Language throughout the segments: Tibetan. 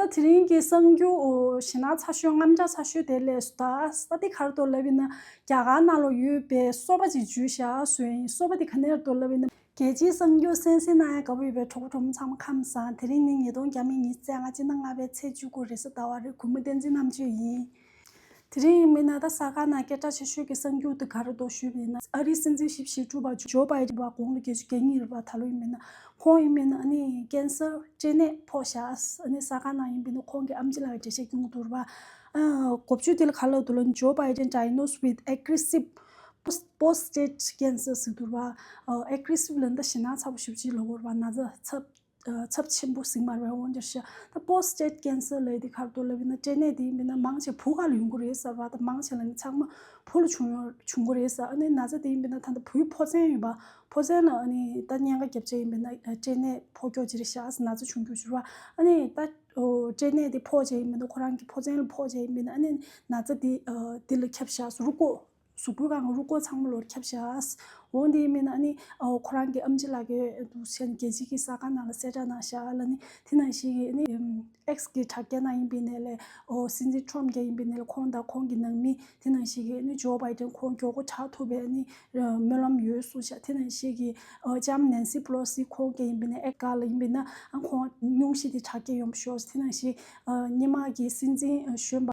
ད་དེ་རིང་གི་གསང་རྒྱུ་ཞེ་ནག་ཚ་ཤོས་རྔམ་ལྕགས་ཚ་ཤོས་དེ་ལས་སུ་ད་ས་དེ་གར་དུ་ལབ་ཡིན་ན་རྒྱ་གར་ནང་ལོག་ཡོད་པའི་སོ་པ་ཅིག་འཇུས་ཤག་བཟོས་ཡིན་སོ་པ་དེ་ག་ནེར་དུ་ལབ་ཡིན་ན། རྒྱལ་སྤྱིའི་གསང་རྒྱུ་གསན་གསན་གནང་ཡག་དགའ་པོ་ཡོད་པའི་གྲོགས་པོ་གྲོགས་མོ་ཚང་མ་ཁམས་བཟང་དེ་རིང་ནི་ཉིས་སྟོང་གྱ་མི་ཉིས་བརྩེགས་ང་ཅིག་ན་ལྔ་པའི་ཚེས་བཅུ་དགུ་རེད་སོ་ད་བར་རེ་གུ་མུ་བསྟན་འཛིན་རྣམ་དཔྱོད་ཡིན། དེ་རིང་ཡིན་མིན་ན་ད་ས་ག་ན་སྐད་གྲགས་ཆེ་ཤོས་ཀྱི་གསར་འགྱུར་དེ་ག་རེ་བཟློག་ཞུས་པ་ཡིན་ན་ཨ་རིའི་སྲིད་འཛིན་ཞིབ་བཤེར་དྲུག་པ་ཇོ་བྷའི་རིན་པ་གོང་ལོ་བརྒྱད་ཅུ་གྱ་གཉིས་རེད་པ་ད་ལོ་ཡིན་མིན་ན་ཁོང་ཡིན་མིན་ཨ་ནི་ཀན་སར་སྐྲན་ནད་ཕོག་ཤགས་ཨ་ནི་ས་ག་ན་ཡིན་མིན་ན་ཁོང་གི་ཨམ་ཅི་ལགས་ཀྱི་འགྲེལ་བཤད་གྱོང་དུ་རུ་བ་གོ་བཅུ་དེ་ལ་ག་ལ་འདུག་ལ་ཇོ་བྷའི་རིན Diagnosed with Aggressive Prostate Cancer ཟེར་དུ་རུ་བ Aggressive ལ་ད་ཞེད་སྣང་ཚ་པོ་ཞུ་བྱེད་ལོ་གོ་རུ་བ་ན་ད་ཚབ་ཚབས་ཆེན་པོ་ཟིང་མར་བས་འོང་རྒྱུར་བཤད། ད་པོ་སྤྲད་ཀན་སི་ལེ་དེ་ཁར་དོ་ལེ་བི་ན་སྤྲད་ནས་དེ་མི་ན་མང་ཆེ་བུ་ག་ལ་ཡོང་གི་རེད་ཟེར་བ་ད་མང་ཆེ་ལ་ནི་ཚང་མ་བུ་ལ་བྱུང་ཡོང་བྱུང་གི་རེད་ཟེར་ཨ་ནི་ན་ཚ་དེ་ཡིན་པས་ན་ད་ད་བུའི་ཕོ་བཙན་ཡོད་པ་ཕོ་བཙན་ལ་ཨ་ནི་ད་བརྙན་ཁ་རྒྱབ་ཆ་ཡིན་པས་ན་སྤྲད་ནས་ཕོ་སྐྱོ་ཆེ་རེད་ཤག་ན་ཚ་བྱུང་རྒྱུ་བྱུར་བ་ཨ་ནི་ད་སྤྲད་ནས་དེ་ཕོ་བྱས་ཡིན་པས་ན་ཁོ་རང་གི་ཕོ་བཙན་ལ་ཕོ་བྱས་ཡིན་པས་ན་ཨ་ནི་ན་ཚ་དེ་དེ་ལ་ཁྱབ་ཤག་སུ་རུ་བསྐོས། གཟུགས་པོ་གང་རུང་ཀོ་ཚང་མ་ལོར་ཁྱབ་བྱས། འོ་འདི་མིན་ན་ནི། ཁོ་རང་གི་ཨམ་ཅི་ལགས་ཀྱི་དུག་མཆན་རྒྱལ་སྤྱི་གི་ས་ཁང་ནང་ལ་གསལ་བསྒྲགས་གནང་བཞག་ལ་ནི། དེ་ནང་བཞིན་གྱི་ནི། X གི་དྲ་རྒྱ་ནང་ཡིན་པའི་གནས་ལས། སྲིད་འཛིན Trump རྒྱ་ཡིན་པའི་གནས་ལས་ཁོང་དང་ཁོང་གི་ནང་མི། དེ་ནང་བཞིན་གྱི་ནི Joe Biden ཁོང་མགྱོགས་པོ་དྲག་ཐུབ་པའི་ནི། སྨོན་ལམ་ཡོད་གསུང་བཞག་དེ་ནང་བཞིན་གྱི། ལྕམ Nancy Pelosi ཁོང་རྒྱ་ཡིན་པའི་གནས X ག་ལ་ཡིན་པའི་ནང་ཁོང། སྙུང་གཞི་དེ་དྲ་རྒྱ་ཡོང་བ་ཤོར། དེ་ནང་བཞིན། སྙེ་མ་གི་སྲིད་འཛིན་གཞོན་པ།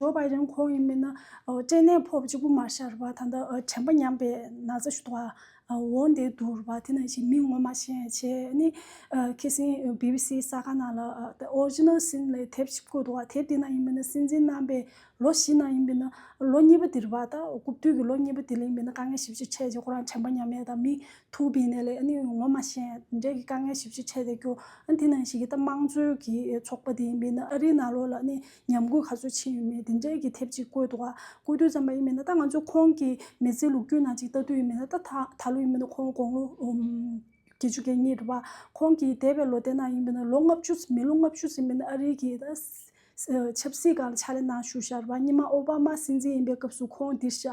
ལོ་བར་རིང་ཁོང་ཡིན་མིན་ན་སྐྲན་ནད་ཕོག་གཅིག་པུ་མ་ཤར་བར་ད་ལྟ་དྲན་པ་ཉམས་པའི་ན་ཚ་ཞུ་དག་འོང་བསྡད་འདུག་བ་དེ་ནང་བཞིན་མི་ངོ་མ་ཤེས་མཁན་ཆེ་ནི་ཁི་སིན་བྷི་བྷི་སིའི་ས་ག་ན་ལ་ཏེ Original Sin ལས་དེབ་ཅིག་བཀོད་འདུག་བ་དེབ་དེ་ནང་ཡིན་མིན་ན་སྲིད་འཛིན་རྣམ་པས་ལོ་བཞི་ནང་ཡིན་མིན་ན་ལོ་གཉིས་པ་དིར་བ་ད་རྐུབ་བསྟུད་ཀྱི་ལོ་གཉིས་པ་དེ་ལ་ཡིན་མིན་ན་དཀའ་ངལ་ཞིབ་གཅོད་ཆེད་ཀྱི་ཁོ་རང་དྲན་པ་ཉམས་མེད་དང་མི་ཐུག་བི་ནས་ལས་ངོ་མ་ཤེས་འབྲས་ཀྱི་དཀའ་ངལ་ཞིབ་གཅོད་ཆེད་དེ་སྐྱོ་དེ་ནང་བཞིན་གི་ད་དམངས་གཙོའི་གི་ཚོགས་པ་དེ་ཡིན་མིན་ན་ཨ་རིའི་ན་ལོ་ལ་ནི། ཉམས་རྒུད་ག་ཚོད་ཕྱིན་ཡོད་མེད་དེ་འབྲེལ་གྱི་དེབ་ཅིག་བཀོད་འདུག་བཀོད་དུས་ཙམ་པ་ཡིན་མིན་ན་ད་ང་ཚོས་ཁོང་གི་མི་ཚེའི་ལུགས་རྒྱུན་ན་ཅིག་ལྟ་དུས་ཡིན་མིན་ན་ད་ད་ལོ་ཡིན་མིན་ན་ཁོང་དགོང་ལོ་བརྒྱད་ཅུ་གྱ་གཉིས་རེད་པ། ཁོང་གི་འདས་པའི་ལོ་དེ་ནང་ཡིན་མིན་ན་ལོ་ལྔ་བཅུ་མི་ལོ་ལྔ་བཅུ་ཟིན་མིན་ན་ཨ་རིའི་གི་ད་ཆབ་སྲིད་གང་ལ་ཕྱག་ལས་གནང་བཞུགས་ཤར་བ་སྙི་མ་ཨོ་བྷ་མ་སྲིད་འཛིན་ཡིན་པའི་སྐབས་སུ་ཁོང་འདིར་བཞག་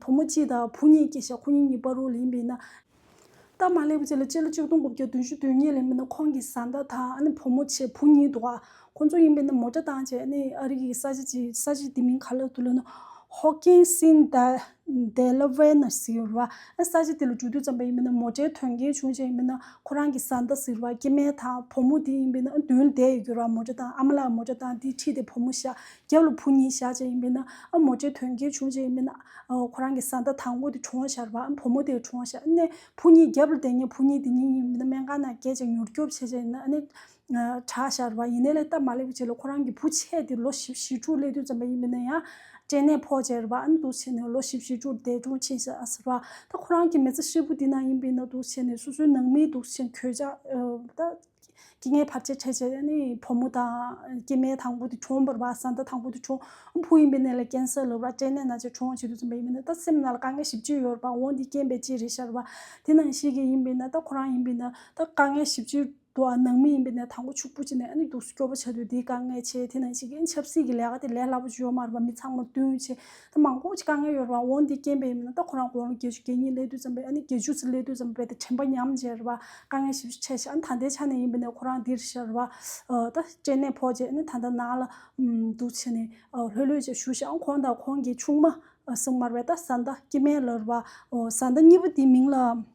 བུ་མོ་སྤྱི་དང་བུ་གཉིས་ཀྱི་ཞག་ཁོ་གཉིས་གཉིས་པ་རུ་ལེན་པས་ན། སྟབས་མ་ལེགས་པ་ཅིག་ལ་སྤྱི་ལོ་གཅིག་སྟོང་དགུ་བརྒྱ་བདུན་ཅུ་དོན་གཉིས་ལོའི་མི་ནག་ཁོང་གི་བཟའ་ཟླ་དང་བུ་མོ་ཆེ་བུ་གཉིས་འདུག་ཨ་ཁོ་ཚོ་ཡིན་པས་ན་མོ་སྐྲ་དང་བཅས་ནས་ཨ་རིག་གི་ས་ཆ་ཅིག་ས་ཆ་དེ་མིང་ག་ལ་ཐུག་ལབ་ན། Hawkinson Delaware ན་ཟེར་བ། ཨ་ས་ཆ་དེ་ལ་འགྲོ་དུས་ཙམ་པ་ཡིན་པས་ན་མོ་སྐྲའི་དོན་རྐྱེན་བྱུང་བྱས་ཡིན་པས་ན་ཁོ་རང་གི་བཟའ་ཟླ་ཟེར་བ་སྐྱེ་དམན་དང་བུ་མོ་དེ་ཡིན་པས་ན་མདུན་བསྡད་ཡོད་ཀྱི་ར་མོ་སྐྲ་དང་ཨ་མ་ལགས་མོ་སྐྲ་དང་དེ་ཁྲིད་དེ་བུ་མོ་ཞག་རྒྱབ་ལ་བུ་གཉིས་བཞག་བྱས་ཡིན་པས་ན་ཨ་མོ་ཅེས་དོན་གྱིས་བྱུང་བྱས་ཡིན་པས་ན། ཁོ་རང་གི་བཟའ་ཟླ་དང་པོ་དེ་བྱུང་བ་ཤར་བ་ཨ་བུ་མོ་དེ་བྱུང་བ་ཤར་ནས་བུ་གཉིས་རྒྱབ་ལ་བསྡད་ཉིན་བུ་གཉིས་དེ་གཉིས་ཡིན་པས་ན་སྨན་ཁང་ན་བསྐྱལ་ཅིང་མྱུར་སྐྱོབ་བྱས་བྱས་ཡིན་ན་ནི། གྲགས་ཤར་བ་ཡིན་ནས་ལས་སྟབས་མ་ལེགས་པའི་ཆེད་ལ་ཁོ་རང་གི་བུ་ཆད་དེ་ལོ་བཞི་བཞི་དྲུག་སླེ་དུས་ཙམ་པ་ཡིན་པས་ན་ཡང། སྐྲན་ནད་ཕོག་བྱས་ར་བ་ཨ་ནི་དུག་བྱས་ནས་ལོ་བཞི་བཞི་དྲུག་འདས་གྲོངས་ཕྱིན་ཤ་ཟེར་བ། ད་ཁོ་རང་གི་མེ་བཙའ་ཧྲིལ་པོ་དེ་ན་ཡིན་པས་ན་དུག་བྱས་ནས་སོ་སོའི་ནང་མིའི་དུག་བྱས་གྱོད་བྱ། སྐྱེ་ངན་བར་ཆད་ཕྲད་བྱེད་ནི་ཕོ་མོ་དང། སྐྱེ་དམན་དང་པོ་དེ་བྱུང་བར་བ་ས་མཐའ་དང་པོ་དེ་བྱུང། བུ་ཡིན་པའི་གནས་ལ་ཀན་སཱི་ལུག་ར་སྐྲན་ནད་ན་ཆ་བྱུང་བ་ཞིག་ཏུ་འཛིན་པ་ཡིན་པས་ན་ད་སེམས་ན་ལ་དཀའ་ངལ་བཞི་བཅུ་ཡོད་པ་འོང་དེ་རྐྱེན་པས་ཅི་རེད་ཤར་བ། དེ་ནང་བཤད་མཁན་ཡིན་པས་ན་ད་ཁོ་རང་ཡིན་པས་ན་ད་དཀའ་ངལ་བཞི་བཅུ་འདུག་ཨ་ནང་མི་ཡིན་པས་ན་དང་པོ་ཕྱུག་པོ་བྱེད་ནས་ཨ་ནི་སྡུག་སུ་སྐྱོ་བོ་བྱ་དུས་དེའི་དཀའ་ངལ་ཆེ་དེ་ནང་བཤད་མཁན་ཆབ་སྲིད་ཀྱི་ལས་ཀ་དེ་ལས་སླ་པོ་ཅི་ཡོད་མ་རེད་པ་མི་ཚང་མར་བསྟུན་ཡོད་ཆེ་ཐེངས་མང་པོ་ཞིག་དཀའ་ངལ་ཡོད་རུང་འོ་འདི་སྐྱེན་པའི་ཡིན་མིན་ན་ད་ཁོ་རང་དགོངས་ཀྱི་གད་སྙིགས་ལས་དུས་ཙམ་པས་ཨ་ནི་གད་ཆུ་ཚིག་ལས་དུས་ཙམ་པས་ད་དྲན་པ་ཉམས་བརྗེ་རེད་བ་དཀའ་ངལ་ཞིབ་ཆེ་ཞིག་ཨ་ནི་ད་ལྟའི་ཆ་ནས་ཡིན་པས་ནས་ཁོ་རང་འདིར་ཤར་བ་ད་སྐྱེན་ནད་ཕོག་རྗེས་ཨ་ནི་ད་ལྟ་ནང་ལ་འདུག་ཕྱི་ནས་ལྷོད་ལྷོད་ཅིག་ཞུ་ཞིག་ཨ་ཁོང་དང་ཁོང་གི་ཆུང་མ་གསུམ་མར་བས་ད་བཟའ་ཟླ་སྐྱི་སྨན་ལར་བ་བཟའ་ཟླ་གཉིས་པོ་དེའི་མིང་ལ།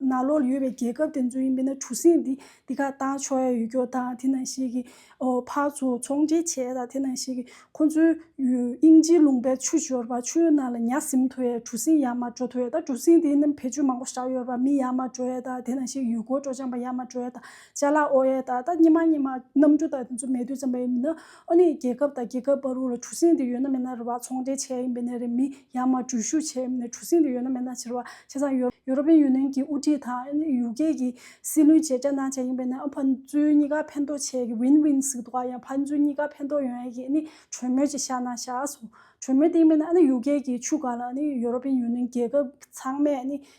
ན་ལོར་ཡོད་པའི་རྒྱལ་ཁབ་དེ་ཚོ་ཡིན་པས་ན་གྲུ་གཟིངས་འདི་འདི་ག་བཏང་ཆོག་ཡ་ཡོད་སྐྱོར་དང་དེ་ནང་བཞིན་གྱི་ཕར་ཚུར་ཚོང་འབྲེལ་བྱས་དང་དེ་ནང་བཞིན་གྱི་ཁོ་ཚོའི་དབྱིན་ཇིའི་ལུང་པའི་ཆུ་འབྱོར་བ་ཆུ་ཡོད་ནང་ལ་ཉག་གཟིམ་ཐོ་ཡའི་གྲུ་གཟིངས་ཡར་མར་འགྲོ་ཐོ་ཡ་དང་གྲུ་གཟིངས་དེའི་ནང་བེ་ཆུ་མང་པོ་བཞག་ཡོད་པ་མི་ཡར་མར་འགྲོ་ཡ་དང་དེ་ནང་བཞིན་ཡུལ་སྐོར་སྤྲོ་འཆམ་པ་ཡར་མར་འགྲོ་ཡ་དང་བཅའ་ལག་ཨོ་ཡ་དང་ད་སྙི་མ་སྙི་མ་གནམ་གྲུ་དང་དེ་ཚོ་མེད་དུས་ཙམ་པ་ཡིན་པས་ན། ཨ་ནི་རྒྱལ་ཁབ་དང་རྒྱལ་ཁབ་བར་ལ་གྲུ་གཟིངས་དེ་ཡོད་ན་མེད་ན་རེད་བ་ཚོང་འབྲེལ་བྱས་ཡིན་པའི་ནས་རེད་མི་ཡང་མ་འགྲུལ་བཞུད་བྱས་ཡིན་པའི་ནས་གྲུ་གཟིངས་དེ་ཡོད་ན་མེད་ན་བྱས་རེད་བ་བྱས་ཙང་ཡོད་ཡོ་རོ་པེན་ཡུ་ནེན་གྱི་དབུ་ཁྲིད་དང་ཨ་ནི་ཡུ་ཀེ་གྱི་སྲིད་བློན་བཅས་རྒྱ་ནག་བྱས་ཡིན་པའི་ནས་ཨ་ཕན་ཚུན་གཉིས་ཀ་ཕན་ཐོག་བྱས་གི་ཝིན་ཝིན་ཟིག་དོག་ཡང་ཕན་ཚུན་གཉིས་ཀ་ཕན་ཐོག་ཡོང་ཡ་གི་ཨ་ནི་གྲོས་མོལ་བྱེད་ཤག་ནང་བཞག་གྲོས་མོལ་དེ་ཡིན་པའི་ནས་ཨ་ནི་ཡུ་ཀེ་གྱི་ཆུ་སྒང་ལ་ཨ་ནི་ཡོ་རོ་པེན་ཡུ་ནེན་རྒྱལ་ཁབ་ཚང་མས་ཨ་ནི།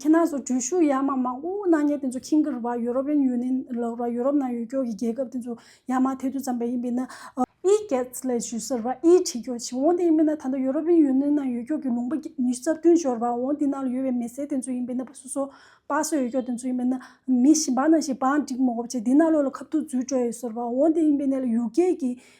ཁྱེད་རྣམས་སུ་འགྲུལ་བཞུད་ཡ་མ་མང་པོ་གནང་མཁན་དེ་ཚོ་ཁྱིམ་གྱི་རུ་བ་ཡུ་རོབ་ཡན་ཡུ་ནན་ལོག་ར་ཡུ་རོབ་ནང་ཡུལ་སྐྱོར་གྱི་རྒྱལ་ཁབ་དེ་ཚོ་ཡ་མ་དེ་དུས་ཙམ་པ་ཡིན་པས་ན། E-Gets ལས་ཞུས་སོར་བ་ཨིའི་ཁྲིད་སྐྱོར་བྱེད་འོང་དེ་ཡིན་པས་ན་ད་ལྟ་ཡུ་རོབ་ཡན་ཡུ་ནན་ནང་ཡུལ་སྐྱོར་གྱི་ལུང་པ་ཉི་ཤུ་རྩ་བདུན་སྦྱོར་བ་འོང་དེ་ནང་ལ་ཡོད་པའི་མི་སེར་དེ་ཚོ་ཡིན་པས་ན་པ་སུ་སོ། པཱ་སོ་ཡུལ་སྐྱོར་དེ་ཚོ་ཡིན་པས་ན། མི་བཞི་འབའ་ནང་བཞིན་བང་བསྒྲིགས་མོག་བྱས་དེ་ནང་ལོག་ལ་ཁབ་ཐུག་འཛུལ་སྤྲོད་ཡོད་སོར་བ་འོང་དེ་ཡིན་པས་ན་ལ་ཡུལ་སྐྱེལ་གྱི་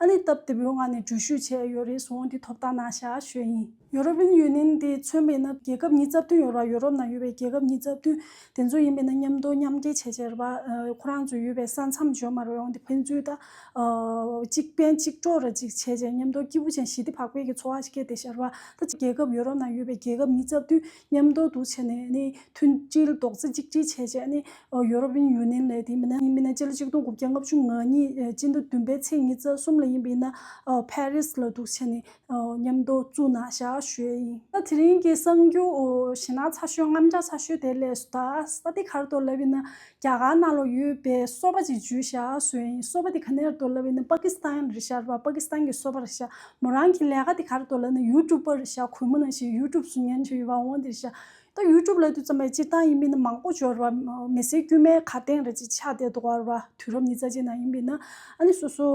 ཨ་ནི་སྟབས་བདེ་པོའི་ངང་ནས་འགྲུལ་བཞུད་བྱས་ཡོད་རེད་སོང་འདི་ཐོབ་ཐང་ནང་བཞག་ཞོད་ཡིན། ཡོ་རོབ་ཡུན་ཡོན་ནིན་དེ་མཚོན་མེད་ན་རྒྱལ་ཁབ་གཉིས་རྩ་བདུན་ཡོད་ར་ཡོ་རོབ་ནང་ཡོད་པའི་རྒྱལ་ཁབ་གཉིས་རྩ་བདུན་དེ་ཚོ་ཡིན་པས་ན་མཉམ་དོ་མཉམ་སྐྱེ་བྱས་བྱས་ར་བ་ཁོ་རང་ཚོ་ཡོད་པའི་ས་མཚམས་འཇོག་མ་ར་བའི་འོང་དེ་ཕན་ཚུལ་ད་གཅིག་ཕན་གཅིག་གྲོགས་ར་ཅིག་བྱས་བྱས་མཉམ་དོ་སྐྱིད་པོ་ཅན་ཞི་བདེ་བག་ཕེལ་གྱི་འཚོ་བ་ཞིག་སྐྱེ་བདེ་བྱས་ར་བ་ད་ཅིག་རྒྱལ་ཁབ་ཡོ་རོབ་ནང་ཡོད་པའི་རྒྱལ་ཁབ་གཉིས་རྩ་བདུན། མཉམ་སྡོད་དུ་བྱས་ནས་མཐུན་སྒྲིལ་རྡོག་རྩ་གཅིག་སྒྲིལ་བྱས་རྗེས་ཡོ་རོབ་དབྱིན་ཡུལ་ནས་ལས་དེའི་མི་སྣ་མི་སྣ་སྤྱི་ལ་གཅིག་སྟོང་དགུ་བརྒྱ་ལྔ་བཅུ་ང་གཉིས་སྤྱི་ཟླ་བདུན་པའི་ཚེས་ཉིས་རྩ་གསུམ་ལ་ཡིན་པའི་ནཱ་ཕེ་རིས་ལ་འདུག་བྱས་ནས་མཉམ་སྡོད་བཙུགས་ན་ཞག་ཞོལ་ཡིན། དེ་རིང་གི་གསང་རྒྱུ་གཞི་ནག་ཚ་ཤོས་རྔམ་དྲག་ཚ་ཤོས་དེ་ལས་སུ་ད་ས་སྟེ་གར་དོར་ལབ་ཡིན་ན་རྒྱ་གར་ནང་ལ་ཡོད་པའི་གསོ་བ་ཅིག་བརྗོད་བཞག་ཟོན་ཡིན་གསོ་བ་དེ་ག་ནེར་འདོར་ལབ་ཡིན་ན་པ་ཀི་སི་ཐན་རེད་ཤར་བ་པ་ཀི་སི་ཐན་གྱི་གསོ་བ་རེད་ཤར་མོ་རང་གི་ལས་ཀ་དེ་གར་འདོར་ལབ་ན་ཡུ་ཀྲུབ་པར་རེད་ཤར་གུས་མོ་ནང་བཞིན་ཡུ་ཀྲུབ་སུ་ཉན་བྱོས་ཡོད་པ་འོང་འདི་རེད་ཤར་ད་ཡུ་ཀྲུབ་ལ་དུས་ཙམ་པའི་སྤྱིར་བཏང་ཡིན་པའི་ན་མང་པོ་འབྱོར་བ་མི་སེར་དཀྱུས་མའི་ཁ་སྟེང་རེད་ཅིག་ཆགས་བསྡད་འདུག་བར་བ་དུས་རབས་ཉི་རྩ་ཅན་ནང་ཡིན་པའི་ན་ཨ་ནི་སོ་སོ་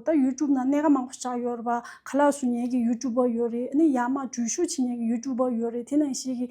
ད་ཡུ་ཀྲུབ་ནང་གནད་ཀ་མང་པོ་བཞག་ཡོད་བར་བ་ག་ལག་སུ་ཉན་གྱི་ཡུ་ཀྲུབ་པར་ཡོད་རེད་ཨ་ནི་ཡག་མ་འགྲུལ་བཞུགས་བྱེད་ཉན་གྱི་ཡུ་ཀྲུབ་པར་ཡོད་རེད་དེ་ནང་བཞིན་གྱི་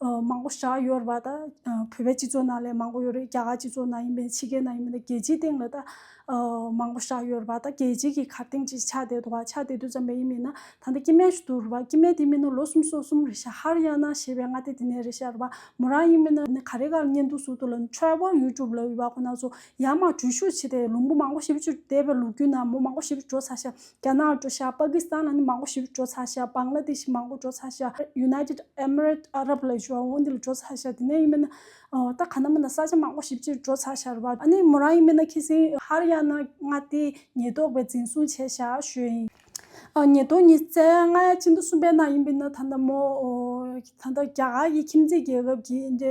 མང་པོ་བཞག་ཡོད་རེད་པ་ད། བོད་པའི་སྤྱི་ཚོགས་ནང་ལས་མང་པོ་ཡོད་རེད་རྒྱ་གར་སྤྱི་ཚོགས་ནང་ཡིན་པའི་ཕྱི་རྒྱལ་ནང་ཡིན་པའི་རྒྱལ་སྤྱིའི་སྟེང་ལ་ད། མང་པོ་བཞག་ཡོད་རེད་པ་ད་རྒྱལ་སྤྱིའི་གི་གར་སྟེང་ཅིག་ཆགས་བསྡད་འདུག་བ་ཆགས་བསྡད་དུས་ཙམ་པའི་ཡིན་མིན་ན་ད་ལྟ་སྐྱི་སྨན་ཞུ་འདུག་རེད་པ་སྐྱི་སྨན་དེ་མིན་ན་ལོ་གསུམ་སོ་གསུམ་རེད་ཤག་ཧར་ཡང་ན་ཞེས་པའི་སྔ་ལྟས་དེ་ནས་རེད་ཤག་རེད་པ་མོ་རང་ཡིན་མིན་ན་ག་རེ་ག་རེ་ཉན་འདུག་ཟུར་དུ་ལ Travel YouTube ལ་ཡོད་པ་ཁོ་ན་ཚོ་ཡར་མར་བྲོས་བཞུགས་བྱས་ཏེ་ལུང་པོ་མང་པོ་ཞིབ་བཅུར་བསྡད་པའི་ལུགས་རྒྱུན་ན་མོ་མང་པོ་ཞིབ་བྲོ་ཚར་ཤག་རྒྱ་ནག་འགྲོ་ཤག་པ་ཀི་སི་ཐན་ལ་ནི་མང་པོ་ཞིག་འགྲོ་ཚར་ཤག་བཱང་གླ་དེ་ཤི་མང་པོ་འགྲོ་ཚར་ཤག་ཡུ་ནའི་ཏིད་ཨེ་མི་རེད་ཨ་རབ་ལ་ཞོ་འོང་དེ་ལ་འགྲོ་ཚར་ཤག་དེ་ནས་ཡིན་མིན་ན་ད་ག་ན་མིན་ན་ས་ཆ་མང་པོ་ཞིག་ཅིག་འགྲོ་ཚར་ཤག་རེད་པཱ་ཨ་ནི་མོ་རང་ཡིན་མིན་ན་ཁི་སིན་ཧར་ཡང་ན་ང་དེ་ཉེས་རྟོག་པའི་འཛིན་བཟུང་བྱས་ཤག་ཞོས་ཡིན། ཉེས་རྟོག་གཉིས་བཙལ་ཡང་ང་ཡང་ཅི་འདུག་གསུངས་པའི་ནང་ཡིན་མིན་ན་ད་ནི་མོ། ད་ནི་རྒྱ་གར་གྱི་ཁྱིམ་མཚེས་རྒྱལ་ཁབ་ཀྱི་འདི་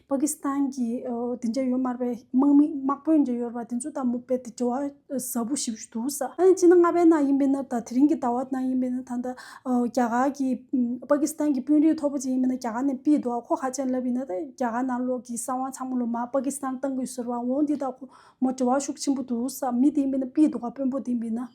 པ་ཀི་སི་ཐན་གྱི་དེ་འདྲ་ཡོད་དམར་པའི་དམག་མི་དམག་དཔོན་འདྲ་ཡོད་པ་དེ་ཚོ་དང་མུག་པའི་དེ་འདྲ་བ་ཟ་བུ་ཞིག་བཞུགས་འདུག་ས་ཨ་ནི་སྤྱི་ན་རྔ་པའི་ནང་ཡིན་པའི་ན་ད་དེ་རིང་གི་ཟླ་བ་ནང་ཡིན་པའི་ན་ད་ད་རྒྱ་གར་གྱི་པ་ཀི་སི་ཐན་གྱི་དཔོན་རིགས་མཐོ་པོ་ཅིག་ཡིན་པའི་ན་རྒྱ་གར་ནས་སྤིས་འདུག་ཁོ་ཧ་ཅང་ལབ་ཡིན་ན་ད་རྒྱ་གར་ནང་ལོག་གི་གསང་བ་ཚང་མ་ལོ་མ་པ་ཀི་སི་ཐན་གཏང་དགོས་ཟེར་བ་འོང་འདི་ད་ཁོ་མོ་འབྲེལ་བ་ཤུགས་ཆེན་པོ་འདུག་ས་མི་དེ་ཡིན་པའི་ན་སྤིས་འདུག་དཔོན་པོ་དེ་ཡིན་པའི་ན།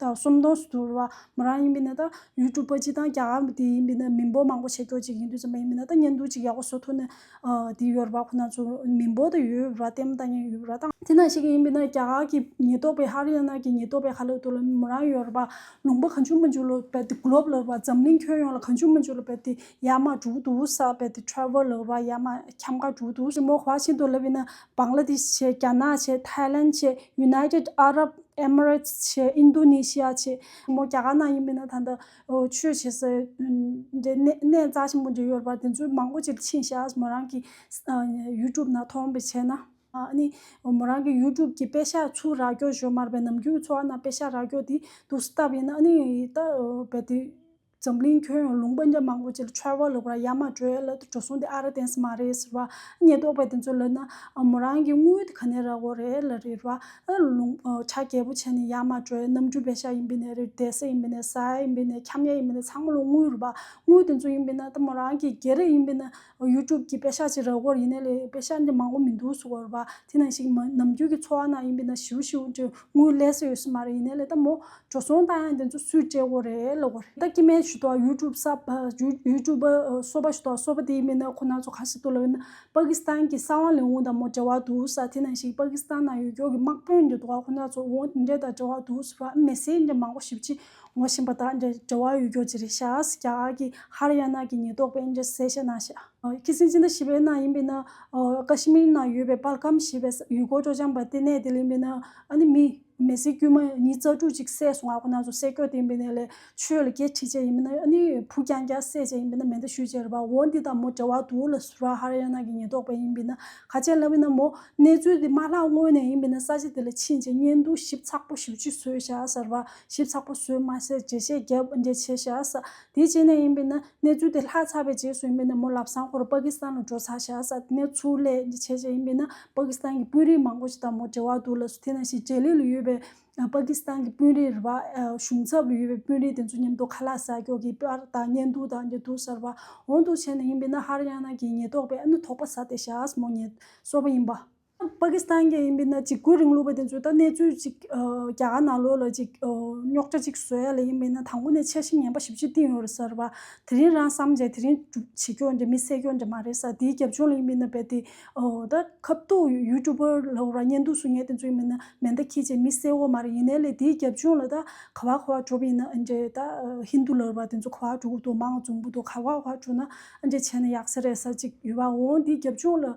དང་གསུམ་སྟོང་སུ་དུར་བ་མོ་རང་ཡིན་པས་ན་ད་ཡུལ་གྲུ་པ་ཅི་དང་རྒྱ་གར་དེ་ཡིན་པས་ན་མི་འབོར་མང་པོ་ཆེ་ཁྱོ་ཅིག་ཧིན་དུ་ཙམ་པ་ཡིན་པས་ན་ད་གཉེན་སྡུག་ཅིག་ཡག་པོ་བཟོ་ཐུབ་ནས་དེ་ཡོལ་བ་ཁོ་ན་ཚོ་མི་འབོར་དུ་ཡོལ་བ་ལྟད་མོ་ལྟ་ཉན་ཡོལ་བ་ལྟ། དེ་ན་ཞིག་ཡིན་པས་ན་རྒྱ་གར་གྱི་ཉེན་རྟོག་པས་ཧ་རི་ཡ་ན་གྱི་ཉེན་རྟོག་པས་ཧ་ལོ་དུ་ལོ་མོ་རང་ཡོལ་བ་ལུང་པ་གང་བྱུང་མ་འཇུག་ལོ་བས་ཏེ་གུ་ལོབ་ལོ་བ་འཛམ་གླིང་ཁྱོན་ཡོངས་ལ་གང་བྱུང་མ་འཇུག་ལོ་བས་ཏེ་ཡ་མ་འབྲུག་དུ་བསགས་བས་ཏེ Travel ལོ་བ་ཡ་མ་ཁྱམས་ཁ་འབྲུག་དུ་བསགས་མོ་བ་ཤིན་ཏུ་ལ་བས་ན་བྷང་ལ་དེ་ཤི་ཆེ་རྒྱ་ནག་ཆེ་ཐའི་ལན་ཆེ་ཡུ་ནའི་ཏེད་ཨ་རབ་ཨེ་མི་རེ་ཚི་ཆེ་ཨིན་རྡུ་ནེ་ཤི་ཡ་ཆེ། མོ་རྒྱ་གར་ནང་ཡིན་པས་ན་ད་ལྟ་ཆོས་བྱེད་སའི་གནས་རྩ་ཆེན་པོ་འདི་ཡོད་པར་དེ་ཚོའི་མང་པོ་ཅིག་ཕྱིན་བཞག་མོ་རང་གི་ཡུལ་གྲུབ་ནང་མཐོང་བའི་ཆེད་ན། ནི་མོ་རང་གི་ཡུལ་གྲུབ་ཀྱི་དཔེ་ཤ་ཆུ་རག་སྐྱོ་ཞོ་མར་པའི་ནམ་རྒྱུན་གྱི་འཚོ་བ་རྣམས་དཔེ་ཤ་རག་སྐྱོ་དེ་དུག་སྲི་ལྟ་བུ་ཡིན་ན་ནི་ད་བལ་དེ། འཛམ་གླིང་ཁྱོན་ཡོངས་ལུང་པ་འདྲ་མང་པོ་ཅིག་ལ་ཆར་བ་ལོག་པར་ཡ་མ་བྲོས་ལ་འགྲོ་སོང་དེ་ཨ་ར་དེང་སང་མ་རེད་ཟེར་བ། ཉེས་རྟོག་པ་དེ་ཚོ་ལ་ན་མོ་རང་གི་དངུལ་དེ་ག་ནས་རག་འོ་རེད་ལ་རེད་བ། ལུང་ཆ་རྒྱལ་པོ་བྱས་ནས་ཡ་མ་བྲོས་གནམ་གྲུའི་བེ་ཤ་ཡིན་པས་ནས་རེད་དེ་ས་ཡིན་པས་ནས་ཟ་ཡིན་པས་ནས་འཁྱམ་ཡ་ཡིན་པས་ནས་ཚང་མ་ལ་དངུལ་རེད་བ། དངུལ་དེ་ཚོ་ཡིན་པས་ན་ད་མོ་རང་གི་རྒྱལ་རེད་ཡིན་པས་ན། YouTube གྱི་དཔེ་ཤག་ཅིག་རག་གོ་ཡིན་ནས་ལས་དཔེ་ཤག་འདི་མང་བོ་མི་འདུག་ཟུར་བ་དེ་ནང་ཞིག་མ་ནམ་རྒྱུན་གྱི་འཚོ་བ་ནང་ཡིན་པའི་ནང་ཞིའུ་ཞིའུ་འདྲེ་དངུལ་ལས་སུ་ཡོད་སུ་མ་རེད་ཡིན་ནས་ལས་ད་མོ་འགྲོ་སོང་ལྟ་ཡང་དེ་ཚོ་སུས་སྤྲད་གོ་རེད་ལོ་གོ་རེད་ད་ཀྱི་མེད་ཞུ་དོག YouTube སབ YouTube པ་གསོ་པ་ཞུ་དོག་གསོ་པ་དེ་ཡིན་པའི་ནང་ཁོ་ནང་ཚོ་ག་ཞིག་འདུག་ལབ་ཡིན་ན་པ་ཀི་སི་ཐན་གྱི་ས་དབང་ལས་འོངས་ད་མོ་འདྲེ་བ་འདུག་ས་དེ་ནང་ཞིག་པ་ཀི་སི་ཐན་ནང་ཡོད་སྐྱོར་གྱི་དམག་དཔོན་འདི་འདུག་ག་ཁོ་ནང་ཚོ་འོངས་འདྲེ་ད་འདྲེ་བ་འདུག་ཟུར་བ་མེ་སྲེག་འདྲེ་མང་བོ་ཞིབ་ཅིག་ངོ་བཞིན་པ་དག་འདྲེ་འདྲེ་བ་ཡུལ་གྱོ་ཇི་རི་ཤཱ་ཨཱས་ཀྱཱ་ཨཱ་ཀི་ཧ་ར་ཡ་ནཱ་ཀི་ཉི་ལྡོག་པའི་འདྲེ་གསལ་བཤད་གནང་ཞེས། ཁྱི་སེང་སེང་ད་ཞི་བའི་ནང་ཡིན་པས་ན། ཀ་ཤི་མིར་ནང་ཡོད་པའི་པར་ཁམས་ཞེས་པའི་ཡུལ་སྐོར་སྤྲོ་འཆམ་པ་དེ་གནས་དེ་ལ་ཡིན་པས་ན། ཨཱ་ནི་མི། མེ་སྲི་དཀྱུས་མ་ཉིས་རྩ་དྲུག་ཅིག་བསད་སོང་ཨ་ཁོ་ན་ཚོ་བསད་ཁྱོ་དེ་ཡིན་པས་ན་ལས་ཆོས་ལ་སྐྱེ་ཁྲི་བཅས་ཡིན་པས་ན་ཨཱ་ནི་བུ་རྐྱང་རྐྱང་བསད་བཅས་ཡིན་པས་ན་མེ་མདའ་ཤུལ་བཅས་རེད་པ་འོ་འདི་དང་མོ་འདྲེ་བ་དུ་ལ་སུ་ར་ཧ་ར་ཡ་ནཱ་ཀི་ཉི་ལྡོག་པའི་ཡིན་པས་ན་ཁ་ཆེ་ལ་བས་ན་མོ། གནས་ཚུལ་དེ་མ་ལྷག་སྔོན་ནས་ཡིན་པས་ན་ས་ཆ་དེ་ལ་ཕྱིན་རྗེས་བརྙན་ཐུང་ཞིབ་ཚགས་པོ་ཞིག་ཅིག་བཟོས་ཤག་ཟེར་བ། ཞིབ་ཚགས་པོ་བཟོས་མ་ཟད་འགྲེལ་བཤད་རྒྱ་ཆེ་བཞག་དེའི་རྗེས་ནས་ཡིན་པས་ན་གནས་ཚུལ་དེ་ལྷག་ཚགས་པའི་རྗེས་སུ་ཡིན་པས་ན་མོ་ལབ་སང་ཁོར་པ་ཀི་སི་ཐན་ལ་འགྲོ་ཚར་བཞག་གནས་ཚུལ་ལས་འགྲེལ་བྱས་རྗེས་ཡིན་པས་ན་པ་ཀི་སི་ཐན་གྱི་དཔོན་རིགས་མང་པོ་ཞིག་དང་མོ་འབྲེལ་བ་འདུག་ལ་སུ་དེ་ནང་བཞིན་ཇའི་ལི་ལ་ཡོད་པའི་པ་ཀི་སི་ཐན་གྱི་དཔོན་རིགས་རེད་པ་གཞུང་ཚབ་ལ་ཡོད་པའི་དཔོན་རིགས་དེ་ཚོ་མཉམ་དུ་ཁ་ལག་ཟ་ཀྱོག་གིས་པར་དང་བརྙན་ཐུང་དང་འབྲེལ་གཏུག་ཟེར་བ་འོང་འདུག་བྱས་ནས་ཡིན་པས་ན་ཧར་ཡ་ན་གྱི་ཉེས་རྟོག་པས་ཨ་ནུ་དོགས་པ་ཟ་སྟེ་བཞག་མོ་ཉེས་གསོག་པ་ཡིན་པ། པ་ཀི་སི་ཐན་གྱི་ཡིན་པའི་ན་གཅིག་པུའི་རིང་ལུགས་པ་དེ་ཚོས་ད་གནས་ཚུལ་གཅིག་རྒྱ་གར་ནང་ལོགས་ལ་གཅིག་རྙོག་དྲ་གཅིག་བཟོ་ཡ་ལ་ཡིན་པའི་ན་དང་པོ་ནས་འཆར་གཞི་ངན་པ་ཞིབ་ཆ་གཏིང་ཡོད་རེད་ཟེར་བ་དེ་རིང་རང་བསམ་བྱས་དེ་རིང་སྒྲུབ་བྱེད་སྐྱོ་འདྲ་མི་སེ་སྐྱོ་འདྲ་མ་རེད་ས་དེའི་རྒྱབ་ལྗོངས་ལ་ཡིན་པའི་ན་བལ་དེ་ད་ཁབ་གཏུག་ཡུལ་གྲུ་པོ་ལ་ཧོ་ར་གཉེན་སྡུག་བཟོ་ངེས་དེ་ཚོ་ཡིན་པའི་ན་མེ་མདའ་ཁྱེད་ཅེས་མི་སེ་འོ་མ་རེད་ཡིན་ནའི་ལས་དེའི་རྒྱབ་ལྗོངས་ལ་ད་ཁ་བ་ཁ་བ་བྲོ་བའི་ཡིན་ན་ཨ་འདྲས་ད་ཧིན་དུ་ལར་བ་དེ་ཚོ་ཁ་བ་བྲོ་གི་འདུག་མང་བཙུགས་འདུག་ཁ་བ་ཁ་བ་བྲོ་ན་ཨ་འདྲས་བྱས་ན་ཡག་ས་རེད་ས་གཅིག་ཡོད་པ་འོང་དེའི་རྒྱབ་ལྗོངས་ལ་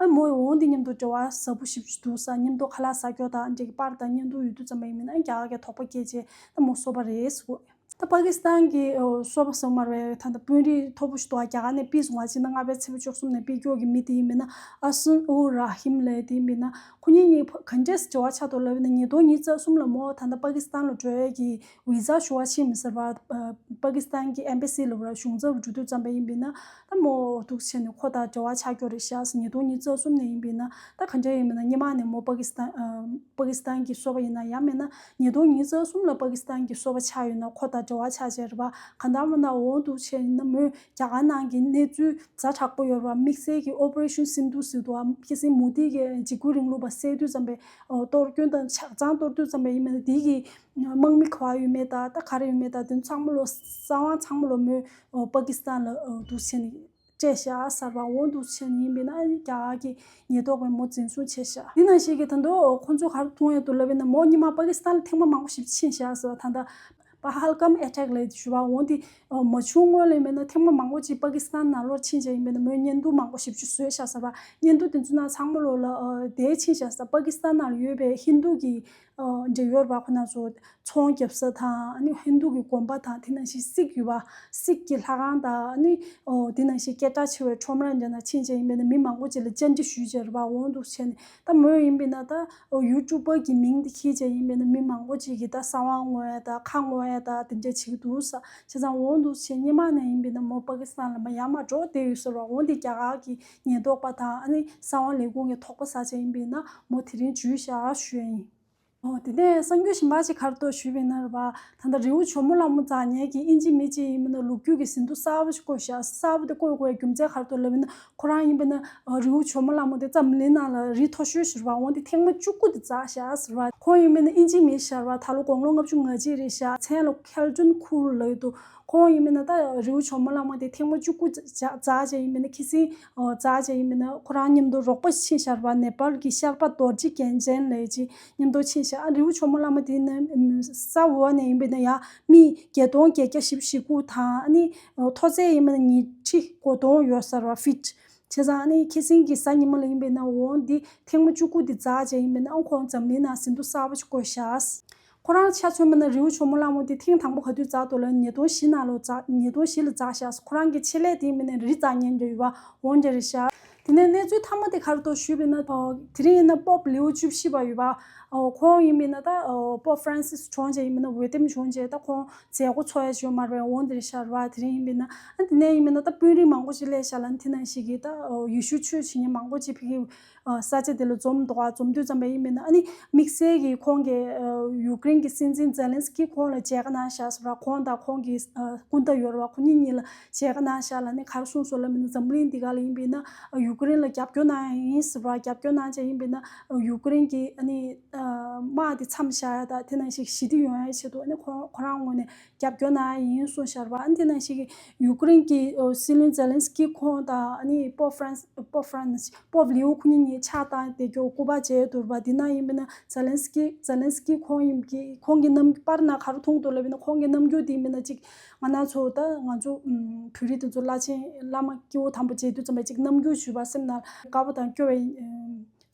ཨ་མོ་ཡིས་འོང་འདི་སྙམ་དུ་དྲི་བ་ཟབ་པོ་ཞིབ་ཅིག་འདུག་ས་སྙམ་དུ་ཁ་ལག་ཟ་སྐྱོ་དང་འདྲེ་གི་པར་དང་བརྙན་ཐུང་ཡོད་དུས་ཙམ་པ་ཡིན་མིན་ཨང་རྒྱག་གི་དོགས་པ་སྐྱེས་རྗེས་ཨ་མོ་གསོལ་བ་རེས་འོས། ད་པ་ཀི་སི་ཐན་གི་གསོལ་བ་གསོལ་མར་བའི་ཐ་ན་དཔོན་རིགས་མཐོ་པོ་ཞིག་འདུག་ཨ་རྒྱ་ག་ནས་དཔེ་བཟུང་བ་གཅིག་ན་རྔ་པའི་ཚེ་བོ་ཅོག་གསུམ་ནས་དཔེ་སྐྱོར་གི་མི་དེ་ཡིན་མིན་ཨ་སུན་ཨུ་ར་ཧིམ་ལེ་དེ་ཡིན་མིན་ཁོ་གཉིས་གཉིས་གང་འདྲས་སུ་དྲི་བ་ཆགས་འདུག་ལབ་ཡིན་ན་ཉིས་སྟོང་ཉིས་རྩ་གསུམ་ལ་མོ་ད་ད་པ་ཀི་སི་ཐན་ལ་བྲོས་ཀྱི་ཝི་ཟ་ཞུ་བ་ཕྱིན་མི་ཟེར་བ། པ་ཀི་སི་ཐན་གྱི་ཨེམ་པའི་སི་ལུགས་ར་ཞུང་རྩ་བར་འཇུག་འདོད་ཙམ་པ་ཡིན་པས་ན། ད་མོ་འོ་ཐུག་ཆེ་ནས་ཁོ་དང་འབྲེལ་བ་ཆགས་ཀྱོ་རེད་ཤག་ཉིས་སྟོང་ཉིས་བརྩ་གསུམ་ནས་ཡིན་པས་ན་ད་ག་འདྲ་ཡིན་མིན་ན་སྙེ་མ་ནས་མོ་པ་ཀི་སི་ཐན་པ་ཀི་སི་ཐན་གྱི་སོ་པ་ཡིན་ན་ཡག་མེད་ན་ཉིས་སྟོང་ཉིས་བརྩ་གསུམ་ལ་པ་ཀི་སི་ཐན་གྱི་སོ་པ་ཆགས་ཡོད་ན་ཁོ་དང་འབྲེལ་བ་ཆགས་ཅེས་རེད་པ་ག་འདྲ་མོ་ན་འོ་ཐུག་ཆེ་ཡིན་ན་མོས་རྒྱ་གར་ནང་གི་གནས་ཚུལ་ཛ་དྲག་པོ་ཡོད་རེད་པ་དམིགས་བསལ་གྱི Operation Sindoor སི་དུ་ཨ་ཀི་སིན་མུ་དྷི་གི་འཇིགས་སྐུལ་རིང་ལུགས་པ་བསད་དུས་ཙམ་པའི་གཏོར་སྐྱོན་དང་ཆགས་སྦྱང་གཏོར་དུས་ཙམ་པ་ཡིན་མིན་ན་དེའི་གི་དམག་མི་ཁ་བ་ཡོད་མེད་དང་ད་ག་རེ་ཡོད་མེད་དང་དོན་ཚང་མ་ལོ་ས་དབང་ཚང་མ་ལོ་མོས་པ་ཀི་སི་ཐན་ལ་འདུ་ཆེན་བཅས་བཞག་གསར་པ་འོང་འདུ་ཆེན་ཡིན་པས་ན་རྒྱ་གར་གྱི་ཉེས་དོགས་པའི་མོ་འཛིན་བཟུང་བྱས་བཞག་དེ་ནང་བཞིན་གྱི་ད་དུང་ཁོ་ཚོ་གར་ཐུང་ཡང་དུ་ལབ་པས་ན་མོ་གཉིས་མ་པ་ཀི་སི་ཐན་ལ་ཐེངས་མ་མང་པོ་ཞིབ་ཕྱིན་བཞག་ཟེར་བ་ད་ལྟ་པ་ཧལ་གམ་ཨེ་ཐྲེག་ལས་ཞུ་བ་འོང་དེ་མ་བྱུང་སྔོན་ལ་ཡིན་པས་ན་ཐེངས་མ་མང་པོ་ཅིག་པ་ཀི་སི་ཐན་ནང་ལོར་ཕྱིན་བཞག་ཡིན་པས་ན་མོས་བརྙན་ཐུང་མང་པོ་ཞིབ་ཆུ་བཟོས་བཞག་ཟེར་བ་བརྙན་ཐུང་དེ་ཚོ་ནང་ཚང་མ་ལོ་ལ་དེད་ཕྱིན་བཞག་ཟེར་བ་པ་ཀི་སི་ཐན་ནང་ལ་ཡོད་པའི་ཧིན་རྡུ་གྱི་འབྲེལ་ཡོད་པ་ཁོ་ན་ཚོ་ཚོང་རྒྱབ་ས་དང་ཧིན་དུ་གི་གོམ་པ་དང་དེ་ནང་བཞིན་སིག་ཡོད་པ་སིག་གི་ལྷ་ཁང་དང་དེ་ནང་བཞིན་སྐད་གྲགས་ཆེ་བའི་ཁྲོམ་ར་འདི་ན་ཕྱིན་ཅད་ཡིན་པས་ན་མི་མང་པོ་བྱས་ལ་བཅར་འདྲི་ཞུས་ཅེས་པར་འོང་འདུག་བྱས་ནས་ད་མོས་ཡིན་པས་ན་ད་ཡུལ་གྲུ་པ་གི་མིང་དེ་ཁྱེད་ཅད་ཡིན་པས་ན་མི་མང་པོ་ཅིག་གིས་ད་ས་དབང་བསྔོ་ཡ་དང་ཁ་བསྔོ་ཡ་དང་དེ་འདྲ་བྱེད་ཀྱི་འདུག་ས་བྱས་ཙང་འོང་འདུག་བྱས་སྙེ་མ་ནས་ཡིན་པས་ན་མོ་པ་ཀི་སི་ཐན་ལ་མ་ཡ་མ་འགྲོ་བསྡད་ཡོད་ཟེར་བར་འོང་སྟེ་རྒྱ་གར་གྱི་ཉེན་རྟོག་པ་དང་ཨ་ནི་ས་དབང་ལས་ཁུངས་ཀྱི་ཐོག་པ་ས་ཆ་ཡིན་པའི་ན་མོ་དེ་རིང་བྱུས་བཞག་ཞུས་ཡ་ཡིན། དེ་ནས་གསང་རྒྱུད་ཞིམ་པ་ཅིག་ཁར་གཏོད་ཞུས་པའི་ནར་བ་ད་ལྟ་རི་བོ་ཇོ་མོ་ལ་མོ་འཛག་ཉལ་གྱི་ཨིན་ཇི་མི་གཅིག་ཡིན་པ་ན་ལུག་ཁྱུ་གི་ཟིན་ཐོ་གསར་བ་ཞིག་བཀོད་བཞག་གསར་བ་དེ་བཀོད་དགོས་རྒྱུ་མཚན་ཁར་གཏོད་ལབ་པ་ན་ཁོ་རང་ཡིན་པ་ན་རི་བོ་ཇོ་མོ་ལ་མོ་དེ་རྩམ་གླིང་ནང་ལ་རི་མཐོ་ཤོས་ཞུར་བ་འོང་དེ་ཐེངས་མ་བཅུ་དགུ་དེ་འཛག་བཞག་ཟེར་བ་ཁོང་ཡིན་པ་ན་ཨིན་ཇི་མི་ཞར་བ་ད་ལོ་དགོང་ལོ་ལྔ་བཅུ་ང་གཅིག་རེད་བཞག་མཚན་ལོ་གྷལ་ཏུན་ཁུ་རུ་ལ་ཡོད་དོ། ཁོང་ཡིན་མིན་ན་ད་རི་བོ་ཆོ་མོ་ལགས་མ་དེ་ཐེངས་མ་བཅུ་དགུ་རྫ་བྱས་ཡིན་མིན་ན་ཁི་སིང་རྫ་བྱས་ཡིན་མིན་ན་ཁོ་རང་མཉམ་དུ་རོགས་པ་ཕྱིན་ཤར་བ་ནེ་པལ་གྱི་ཤར་པ་རྡོ་རྗེ་རྒྱལ་མཚན་ལས་ཀྱི་མཉམ་དུ་ཕྱིན་ཤར་ཨ་རི་བོ་ཆོ་མོ་ལགས་མ་དེ་ནི་ས་འོག་ནས་ཡིན་པས་ན་ཡང་མི་བརྒྱད་སྟོང་བརྒྱད་བརྒྱ་བཞི་བཞི་དགུ་དང་ཨ་ནི་མཐོ་ཚད་ཡིན་མིན་ན་ཉིས་ཁྲི་གོ་སྟོང་ཡོད་ས་ར་ཧྥིད་བྱས་ཙང་ཨ་ནི་ཁི་སིང་གི་ས་ཉི་མ་ལ་ཡིན་པས་ན་འོང་འདི་ཐེངས་མ་བཅུ་དགུ་འདི་རྫ་བྱས་ཡིན་མིན་ན་འོང་ཁོང་འཛམ་གླིང་ནང་ཟིན་ཐོ་གསར་བ་ཞིག་བཀོད་ཤར། ཁོ་རང་ཆ་མཚོན་པ་ན་རི་བོ་ཕྱུག་མོ་གླང་མོ་དེ་ཐེངས་དང་པོ་ག་དུས་འཛག་འདུག་ལ་ཉིས་སྟོང་བཞི་ན་ལོ་འཛག་ཉིས་སྟོང་བཞི་ལ་འཛག་བཞག་ཁོ་རང་གི་ཆེད་ལས་དེའི་མི་ནས་རི་འཛག་ཉན་རྒྱ་ཡོད་པ་འོང་རྒྱ་རེད་བཞག། དེ་ནས་གནས་ཚུལ་མཐའ་མ་དེ་གར་དུ་ཞུས་པས་ན། དེ་རིང་ཡིན་ན་པོབ་ལིའོ་བཅུ་བཞི་པ་ཡོད་པ། ཁོང་ཡིན་པས་ན་ད་པོབ་ཧྥ་རན་སིས་བྱོན་རྗེས་ཡིན་པས་ན་འོས་འདེམས་བྱོན་རྗེས་ད་ཁོང་མཛད་སྒོ་འཚོགས་ཡ་བྱོན་མར་བས་འོང་རྒྱ་རེད་བཞག་རེད་བ་དེ་རིང་ཡིན་པས་ན། དེ་ནས་ཡིན་པས་ན་ད་དཔོན་རིགས་མང་པོ་ཅིག་སླེབས་བཞག་ལ་དེ་ནང་ཞིག་གིས་ད་ཡུལ་ཤུལ་ཆོས་བྱེད་མཁན་མང་པོ་ཅིག་ཕེབས་ཀྱི། ས་བཅད་དེ་ལ་རྩོམ་དོགས་ཨ་རྩོམ་དུས་བརྩམས་པ་ཡིན་མིན་ནི་ཨ་ནི་དམིགས་བསལ་གྱིས་ཁོང་གིས་ཡུཀ་རེན་གྱི་སྲིད་འཛིན་ཛེ་ལན་སི་ཀི་ཁོང་ལ་མཇལ་ཁ་གནང་བཞག་ཟེར་བ་ཁོང་དང་ཁོང་གི་སྐུ་ཟླ་ཡོལ་བ་ཁོ་གཉིས་གཉིས་ལ་མཇལ་ཁ་གནང་བཞག་ལ་ནི་གར་སོང་ཟོ་ལ་མིན་ན་འཛམ་གླིང་འདི་ག་ལ་ཡིན་པའི་ན་ཡུཀ་རེན་ལ་རྒྱབ་སྐྱོར་གནང་ཡང་ཡིན་ཟེར་བ་རྒྱབ་སྐྱོར་གནང་བྱ་ཡིན་པའི་ན་ཡུཀ་རེན་གྱི་ཨ་ནི་དམག་དེ་མཚམས་བཞག་ཡ་དག་དེ་ནང་བཞིན་ཞི་བདེ་ཡོང་ཡ་ཆེད་དུ་ཨ་ནི་ཁོ་རང་ངོས་ནས་རྒྱབ་སྐྱོར་གནང་ཡ་ཡིན་གསུངས་ཤར་བ་འདི་ནང་ཞིག་ཡུ་ཀེ་རེན་གྱི་སྲིད་བློན་ཛེ་ལན་སི་ཀི་ཁོང་དང་པོབ་ཧྥ་རན་སི། Pope Francis། པོབ་ལིའོ་ཁོ་གཉིས་གཉིས་ཕྱག་བཏང་སྟེ་གྱོ་སྐུ་པར་བཅས་བསྡུར་བ་འདི་ནང་ཡིན་པའི་ནང་ཛེ་ལན་སི་ཀི། Zelensky། ཁོང་ཡིན་གྱི་ཁོང་གི་རྣམ་པར་ནང་ག་རུ་མཐོང་ཐུབ་ལབ་ཡིན་ན་ཁོང་གི་རྣམ་འགྱུར་འདི་མིན་ན་ཅིག་ང་ནང་ཚོ་ད་ང་ཚོ་བོད་རིགས་དེ་ཚོ་བླ་ཆེན་བླ་མ་སྐྱེ་བོ་དམ་པོ་མཇལ་དུས་ཙམ་པའི་ཅིག་རྣམ་འགྱུར་ཞུས་པ་སེམས་ན་དགའ་བོ་དང་སྐྱོ་བའི་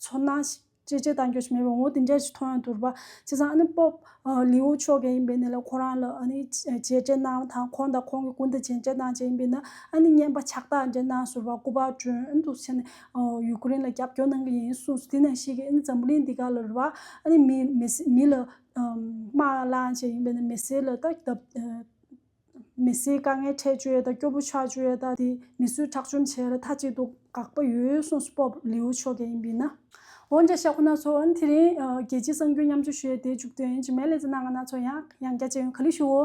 ཚོར་སྣང་ཞིག། ཅེས་བྱས་བཏང་སྐྱོན་མེད་པའི་ངོ་བོ་དེ་འདྲ་ཞིག་མཐོང་ཡང་དུར་བ་ཆེ་ཚང་ཨ་ནི་སྤོབས་ལེའུ་མཆོག་གི་ཡིན་པས་ནི་ལ་ཁོ་རང་ལ་ཨ་ནི་བྱས་འབྲས་གནང་བ་དང་ཁོང་དང་ཁོང་གི་སྐུ་འདི་བྱས་འབྲས་གནང་བྱས་ཡིན་པས་ན་ཨ་ནི་བསྙེན་པ་ཕྱག་རྟགས་འདྲ་གནང་ཟུར་བ་སྐུ་པར་སྒྲོན་དུ་བྱས་ནས་ཡུལ་ཀུན་རིང་ལ་རྒྱབ་སྐྱོར་གནང་གི་ཡིན་གསུངས་སོ་དེ་ནས་ཤེས་ཀི་ཨ་ནི་འཛམ་བུ་གླིང་འདི་ག་ལ་རུལ་བ་ཨ་ནི་མི་ལ་དམག་བླངས་བྱས་ཡིན་པས་ན་མི་སེར་ལ་ལྟ་མི་སེར་དཀའ་ངལ་འཕྲད་བཅོས་དང་སྐྱོ་བོ་ཆགས་བཅོས་དང་དེ་མི་གསོད་ཁྲག་བཅོམ་བྱས་ལ་མཐའ་གཅིག་ཏུ་དགག་པ་ཡོད་ཡོད་གསུངས་སུ་སྤོབས་ལེའུ་ཆོས་རྒྱལ་ཡིན་པས་ན། འོན་ཀྱང་ཤ་ཁོ་ན་ཚོ་དེ་རིང་རྒྱལ་སྤྱིའི་གསང་རྒྱུན་མཉམ་སྤྱོད་བྱས་ཏེ་འཇུག་དོན་ཡིན་གྱི་མེད་ལས་ཙེ་གནང་ང་ན་ཚོ་ཡང་ཡང་རྒྱ་ཆེ་ཡོང་ག་ལི་ཞུའོ།